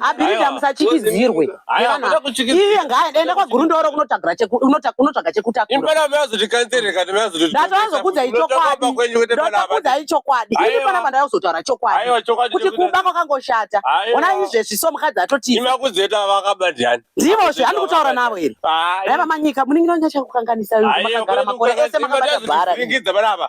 abhirida musachikidzirwe iye ngaaenda kwagurundoro kunotsvaga chekutakurandataazokudzai chokwadindataazokudzai chokwadi ini pana pandada kuzotaura chokwadi kuti kumba kwakangoshata ona izvezvi so mukadzi atotiimazvendivozve andi kutaura navo here dai vamanyika muningiro nyachakukanganisa makagara makore ese makabata bhara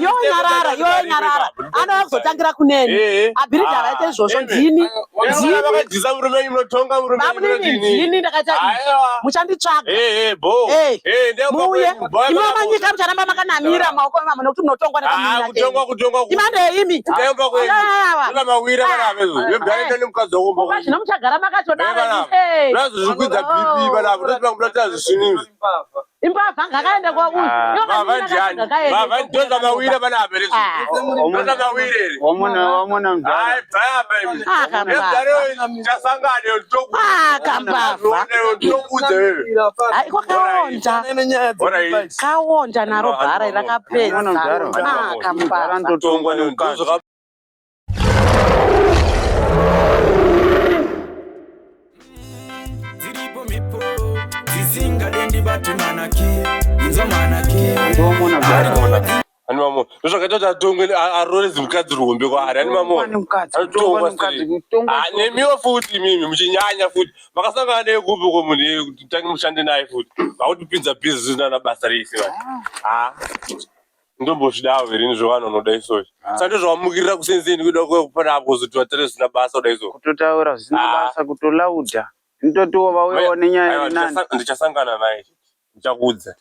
yo nyarara yo nyarara anova kuzotangira kuneni eh, eh. abhiridha ah, vaite izvozvo ndini ndinidini ndakaita muchanditsvaga eh, muuye imwe manyika mucharamba makanamira ah. maoko emama nokuti munotongwa nekaimandeyimi zvino muchagara makatodara imbavha ngakaende kwauyu ndozamawire vana aberekaonja naro bhara rakapedza ndozvakaita kuti atongwe arore zimukadzi ruhombe kwaari ani mamonemiwo ah, futi mimi muchinyanya futi makasangana naye kupi ko munhu tange mushande naye futi vakutipinza bhizinana basa reisi ah. ah. ndombozvidawo here izvo vanhu vanoda izvozvo ah. sa ndozvawamukirira kusenzeni kuda kupana apo kuzoti vatore zvisina basa kuda izvozvo kutotaura zvisina ah. basa kutolauda ndotiwo vauyawo nenyaya yenani ndichasangana naye ndichakuudza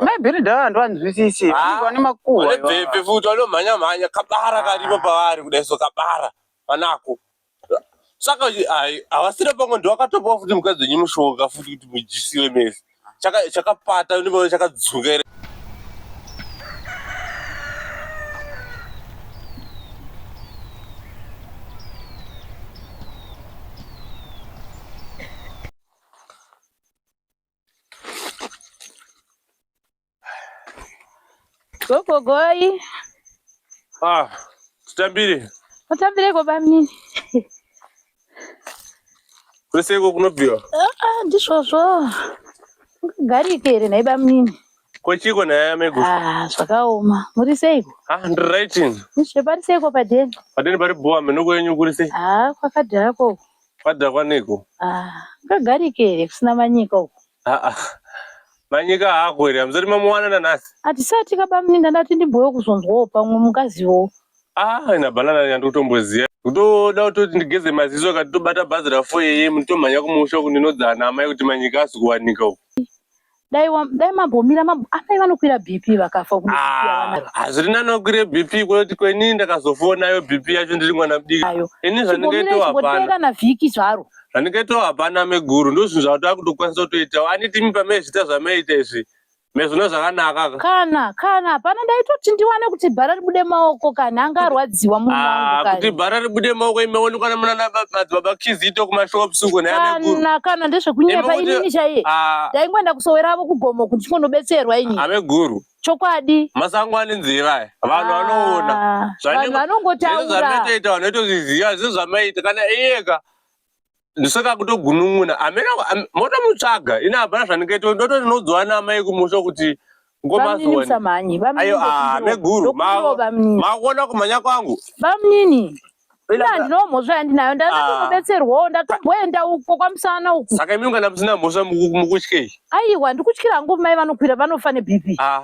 maibheri dhaa handiwanzwisisi ah. vane makuhwa futi vanomhanya mhanya kabara karipo pavari kudai so kabara vanako saka ai havasina pamwe ndiwakatopawo futi mukadzi wenyu mushonga futi kuti mujisiwe mese Chaka- chakapata ndimaona chakadzuka here Gogo goi. Ah, tutambire. Tutambire ko bamnini. Kwese ko kunobviwa. Ah, ah ndisvozvo. Garike here nhai bamnini. Ko chiko nhai amego. Ah, zvakaoma. Muri seiko? Ah, ndiri right. Ndisve pari seiko padeni? Padeni pari boa menoko yenyu kuri sei? Ah, kwakadhara ko. Kwakadhara kwaniko? Ah, ngagarike here kusina manyika uko. Haa ah, manyika hako here hamzoti mamuwana nanasi hatisati kabamuninda ndati ndimboyo kuzonzwawo pamwe mungazivowo aa ah, ina banana yandi kutomboziva kutoda kutoti ndigeze maziso kati tobata bhazi rafo yeye mutomhanya kumusha kuninodzana ana amai kuti manyika asi kuwanika uku dai dai mambomira mambo amai vanokwira bp vakafa ah, hazviri nani wakwire bp kwekuti kwenini ndakazofonayo bp yacho ndiri mwana mudiki ini zvandingaitohapana kana vhiki zvaro zvanikaitawo hapana meguru ndozvinhu zvataa kutokwanisa kutoitawo anitimi pamee zvita zvameita izvi mezvona zvakanaka kana kana hapana ndaitoti ndiwane kuti bhara ribude maoko kana anga arwadziwa muakuti ah, bhara ribude maoko imeonekwa nemunanamadzibaba kizito kumashops uko kana kana ndezvekunyepa inini chaiye ah. ndaingoenda kusowera avo kugomo kuti ndikonobetserwa ini ave guru chokwadi masango ane nzira aya vanhu ah, vanoona vanhu vanongotaura zvametaita vanhu vaitozviziva zvezvamaita kana iyeka ndosaka kutogunun'una amena motomutsvaga ini hapana zvandingaita ndotonodzwa naamai kumusha kuti ngomazoaameguru ah, makuona kumhanya kwangu bamnini ina handinawo mhosva yandinayo ndatombobetserwawo ah. ndatomboenda uko kwamusana uku saka imi kana musina mhosva mukutyei aiwa ndikutyira hangu mai vanokwira vanofa nebp ah.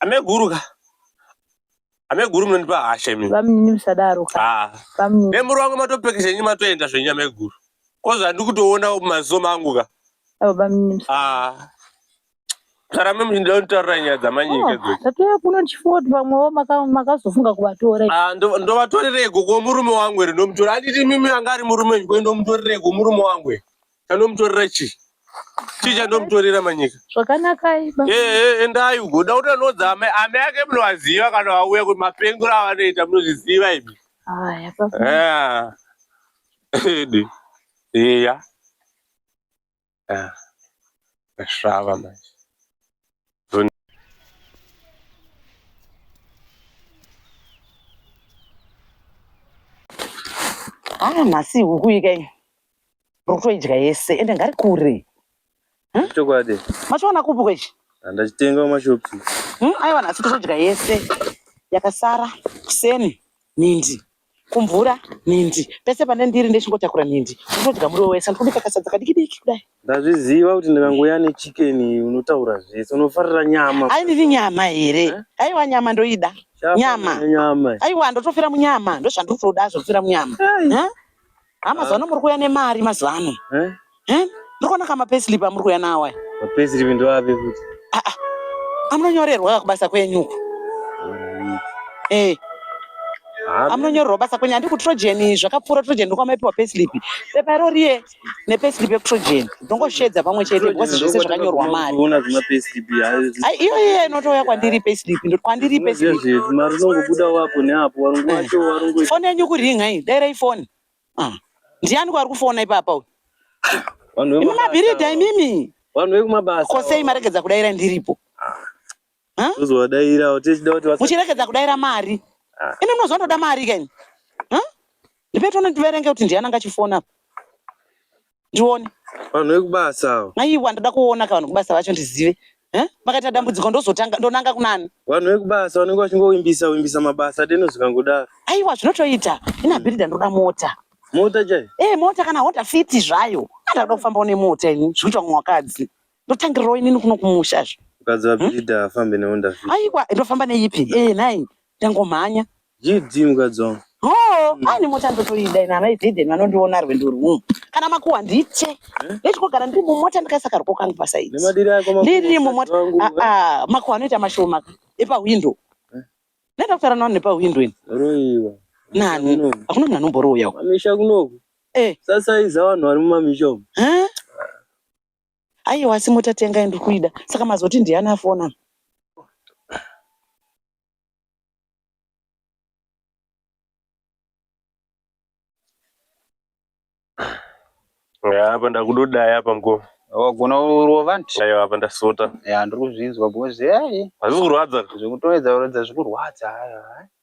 ameguru ka ameguru munondipa hasha imi vamunini musadaro ka nemuri wangu matopeki zvenyu matoenda zvenyu ameguru ko zvandiri kutoona maziso mangu ka Sarame mshinda untaura nyaya dzamanyika idzodzo. Oh, Tatoya kuno ndichifunga kuti vamwewo makazofunga kuvatora. Ah, ndovatorereko ko murume wangu ere ndomutora. Handiti mimi anga ari murume wenyu ko ndomutorereko murume wangu ere. Anomutorera chii? Chii chanomutorera manyika? Zvakanaka iba. Eh, eh, endai uko. Unoda kuti anodza amai amai ake munovaziva kana vauya kuti mapengero avanoita munozviziva imi. Haya baba. Ah. Ede. Eya. Ah. Zvava manje. Ah, masi huku ika iyi. Uri kutoidya yese ende ngari kure. Hmm? Chokwadi. Machiwana kupi kwechi? Ndachitenga kumashops. Hmm? Aiwa nhasi tozodya yese yakasara kuseni nhindi kumvura nhindi pese pane ndiri ndechingotakura nhindi unodya muriwo wese ndikuda kakasadza kadiki diki kudai ndazviziva kuti ndikangouya nechicken unotaura zvese unofarira nyama ai ndiri nyama here eh? aiwa nyama ndoida nyama nyama aiwa ndotofira munyama ndozvandiri kutoda zvokufira munyama Ha mazuva ano muri kuuya nemari mazuva ano. Eh? Eh? Muri kuona kama payslip amuri kuuya nawo aya. Ma payslip ndoapi futi? Ah ah. Amunonyorerwa kubasa kwenyu uko. Eh. Amunonyorerwa basa kwenyu andikutrogen zvakapfuura trogen ndokwamaipiwa payslip. Pepa iro riye nepayslip yekutrogen. ndongosheedza pamwe chete because zvese zvakanyorwa mari ah, iyo iyo inotouya kwandiri payslip ndoti kwandiri payslip mari inongobuda wapo neapo warungu wacho eh. warungu foni yenyu kuringa iyi dai rai foni ah. ndiani kwari kufona ipapa uyu imamabhiridha imimi vanhu vekumabasa kosei maregedza kudaira ndiripo tozovadairawo tichida kuti muchirekedza kudaira mari ah. imi munoziva ndoda mari kani ndipe tone ndiverenge kuti ndiani anga chifona ndione vanhu vekubasa avo aiwa ndoda kuona ka vanhu kubasa vacho ndizive makaita dambudziko ndozotanga ndonanga kunani vanhu vekubasa vanenge vachingowimbisa wimbisa mabasa deno zvikangodaro aiwa zvinotoita inabhirida ndoda mota mota chai e eh, mota kana hota fiti zvayo andakuda kufambawo nemota ini zvikuitwa mumwe wakadzi Ndotangirirwa inini kuno kumusha zve. Mukadzi wa hmm? Bhidha afambe newe ndafika. Aiwa ndofamba neipi? Eh nhai ndangomhanya. GD mukadzi wangu. Oh, hmm. ani mota ndotoida ina mai Bhidhen vanondiona rwendo rwumu. Kana makuwa nditye. Eh? Ndechikogara ndiri mumota ndikaisa karwo kangu pasaidi. Nemadiri ako makuwa. Ndiri mumota. Ah, ah, makuwa anoita mashoma epa window. Eh? Nenda kutara nawo nepa window ini. Roiwa. Nani? Hakuna munhu anomboroya. Mamisha kunoku. Eh. Sasa iza vanhu vari mumamisha umu. Eh? Aiwa asi mota tenga yandiri kuida saka mazoti ndiani afona. Apa ndakudodaya apa mko. Wagona kurova nti. Aiwa apa ndasota. Ya ndiri kuzvinzwa bozi. Hazvikurwadza. Zvikutoedza kuratidza zvikurwadza.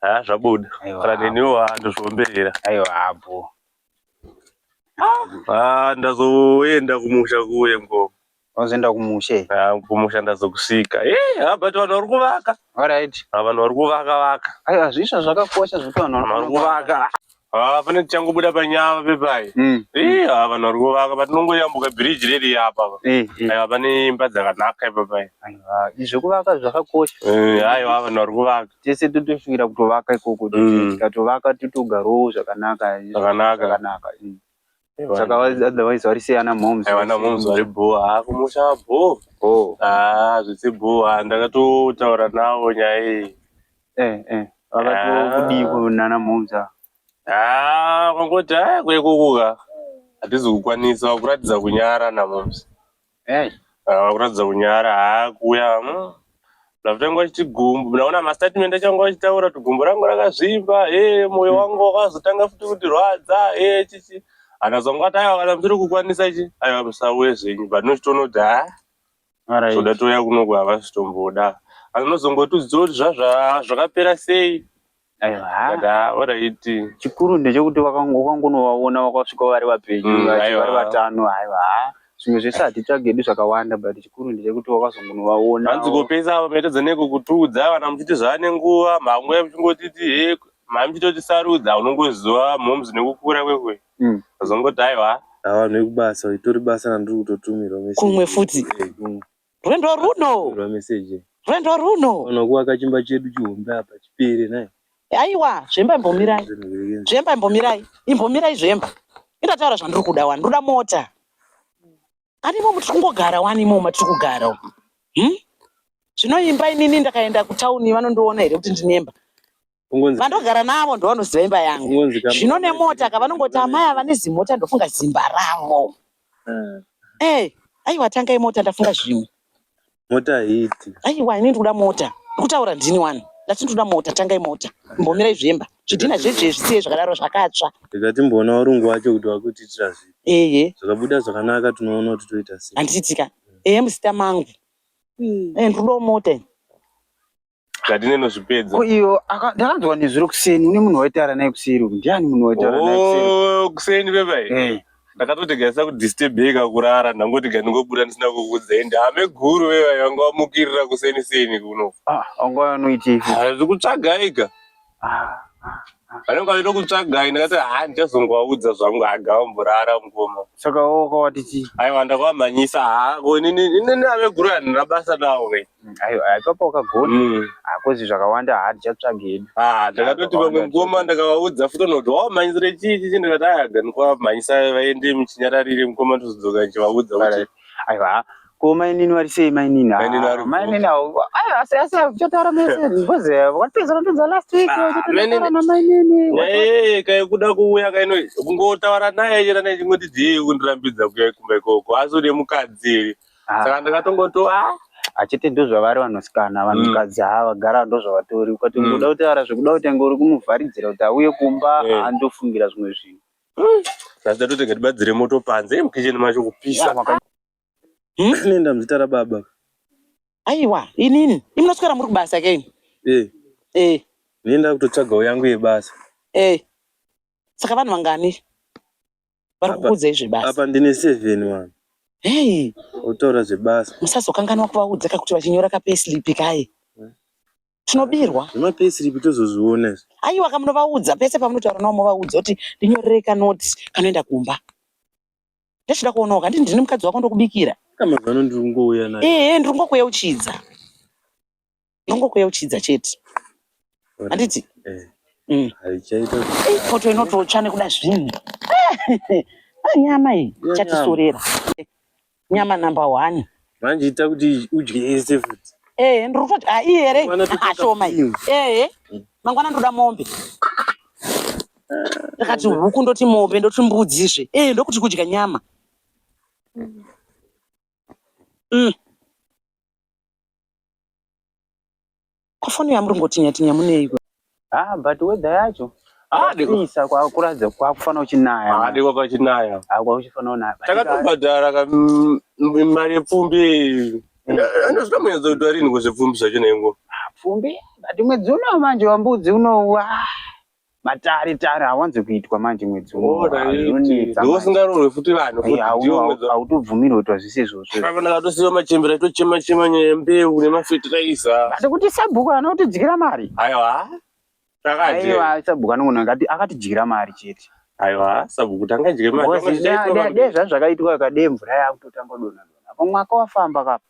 ha zvabuda kana neniwo handozviomberera aiwa hapo ah ndazoenda kumusha kuye ngoma unozoenda kumusha ah kumusha ndazokusika eh ha but vanhu vari kuvaka alright ha vanhu vari kuvaka vaka aiwa zvisha zvakakosha zvekuti vanhu vari kuvaka Haa pane tichangobuda panyava pepai mm. eh, haa vanhu vari kuvaka patinongoyambuka bhiriji riri yapa eh, eh. aiwa pane imba dzakanaka ipapai zvekuvaka zvakakosha aiwa vanhu vari kuvaka tese totosvikira kutovaka ikoko mm. tikatovaka totogarowo zvakanaka zvakanaka saka otherwise vari sei ana moms aiwa ana moms vari bhoo haa kumusha bhoo bhoo haa zvisi bhoo haa ndakatotaura navo nyaya iyi eh eh vakatokudiko ah. nana moms ava haa kwangoti haa kwekukuka hatizi kukwanisa kuratidza kunyara namoms Hey. Ah, kuratidza kunyara haa kuuya ndakutanga achiti gumbo ndaona mastatement achanga achitaura kuti gumbo rangu rakazvimba e moyo hmm. wangu wakazotanga futi kutirwadza e chichi akazonga ati aiwa kana mutiri kukwanisa chi aiwa musauye zvenyu but nochitoona kuti ha zvoda touya kunoku havasitomboda anozongotiudza kuti zvazva zvakapera sei chikuru ndechekuti wakangonovaona wakasvika vari vapenyu mm, vari vatano aiwa zvimwe zvese hatitsvage edu zvakawanda but chikuru ndechekuti wakazongonovaona hanzi kopesa avo maitadza neko kutiudza kana muchiti zvaane nguva mamwe muchingotiti he mhai muchitotisarudza unongoziva moms nekukura kwekwe mm. azongoti aiwa avanhu vekubasa itori basa randiri kutotumirwa kumwe futi Rwendo runo. Rwa message. Rwendo runo. Ono kuwaka chimba chedu chihombe apa chipere naye. Aiwa, zvemba imbomirai. Zvemba imbomirai. Imbomirai zvemba. Indataura zvandiri kuda wani. Ndoda mota. Ani momu tiri kungogara wani momu matiri kugara. Hmm? Zvinoimba inini ndakaenda kutown vanondiona here kuti ndinemba. vandogara navo ndovanoziva imba yangu zvino nemota ka vanongoti amai ava nezimota ndofunga zimba ravo eh. eh, aiwa tangai mota ndafunga zvimwe mota haiti aiwa ini ndikuda mota ndikutaura ndini wani ndati ndikuda mota tangai mota mbomirai zvemba zvidhina zvedzve zvisiye zvakadaro zvakatsva rega timboona varungu wacho kuti vakutiitira zvi eye zvakabuda zvakanaka tinoona kuti toita sei handiitika eye muzita mangu hmm. eh, ndikudawo mota ini zvatinenozvipedza ko iyo ndakanzwa nezuro kuseni une munhu waitaura naye kuseri uku ndiani munhu waitaura naye oh, kuseni bebai eh. ndakatotegaisa kudisturbeka kurara ndangoti ga ndingobuda ndisina kukudzai ndame guru bebai vanga vamukirira kuseni seni kuno ah, anga vanoitei hazikutsvagaika vanenge vaita kutsvagai ndakati ha ndichazongovaudza zvangu agavamborara mukoma saka woka wati chii aiwa ndakavamhanyisa ha inini inini ave guru handina basa navo ke Mm, aiwa aiwa, ipapo wakagona Mm. hakozi zvakawanda ha tichatsvaga hedu Ah, ndakatoti vamwe mukoma ndakavaudza futi vanoti wavamhanyisire chii chichi ndikati aya gani kwavamhanyisa vaende muchinyararire mukoma ndozodzoka ndichivaudza kuti aiwa Ko mainini vari sei mainini? Mainini vari mainini avo asi asi kuchataura mese because vakatipedza kutodza last week kuchataura na mainini. Eh kai kuda kuuya kai noise kungotaura naye chera naye chingoti dzii kundirambidza kuya kumba ikoko asi une mukadzi ah. saka ndakatongoto ah achiti ndozvavari vanosikana vanhukadzi mm. haa vagara ndozvavatori ukati mm. ngoda kutaura zvekuda kutanga uri kumuvharidzira kuti auye kumba andofungira zvimwe zvinhu mm. asi tatotega tibatsire moto panze mukisheni macho kupisa Hmm? Nenda muzita rababa. Aiwa, inini. Imunoswera muri kubasa ke ini. Eh. Eh. Nenda kutotsvagawo yangu yebasa. Eh. Saka vanhu vangani? Vari kukuudzei zvebasa? Apa ndine seven vanhu. Hey. Otaura zvebasa. Musazokanganwa kuvaudza kakuti vachinyora kapeslip kaye. Hmm? Tinobirwa. Zvema peslip tozozviona izvi. Aiwa kamunovaudza pese pamunotaura navo movaudza kuti ndinyorere kanoti kanoenda kumba. ndochida kuonawo kanditi ndini mukadzi wako ndokubikira kamazano ndiri kungouya naye ehe ndiri kungokuyeuchidza ndiri kungokuyeuchidza chete handiti eh. mm. haichaita foto inototsva nekuda zvinhu ah, nyama iyi chatisorera nyama number one manje ita kuti udye yese futi ehe ndiri kutoti haii here ashoma ehe mangwana ndoda mombe ndakati huku ndoti mombe ndoti mbudzizve ehe ndokuti kudya nyama mm. Ko foni yamu ringotinya tinya muneiko? Ah but weather yacho Ah, deko. kwapisa kwakuratidza kwakufanira uchinaya. Ah, deko kwachinaya. Ah kwakuchifanira unaya. Takatobhadhara ka mm, mm, mari yepfumbi. Anozvita muenzo kuti warini kuzvipfumbi zvacho nengo. Pfumbi but mwedzi uno manje wambudzi uno wa. matare tare hawanzi kuitwa manje mwedzi unounetsaosingarorwe futi vanhu hautobvumirwe kuitwa zvise izvozvoavanakatosiva machembera itochema chema nyaya yembeu nemafetiraiza asi kuti sabhuku anotidyira mari aiwa aiwa sabhuku anongona ngati akatidyira mari chete aiwa sabhuku tangadye maridezvazvakaitwa kade mvura yakutotanga donadona apo mwaka wafamba kapo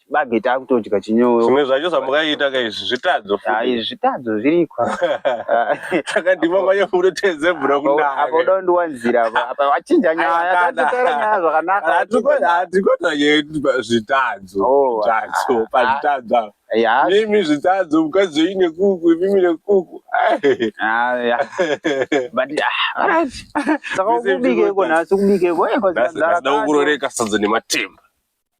chibage takutodya chinyoyo zvimwe zvacho zvamakaita ka izvi zvitadzo hai zvitadzo zviriko takadhima kwanye kunoteze bro kunaapo uda ndiwanzira apa wachinja nyaya tatotara nyaya zvakanaka hatikota yedu zvitadzo oh, zvitadzo ah, ah. pazvitadzo apa mimi zvitadzo mukadzi wenyu nekuku mimi nekuku saka ukubikeko nhasi ukubikeko eh, ndakuroreka sadza nematemba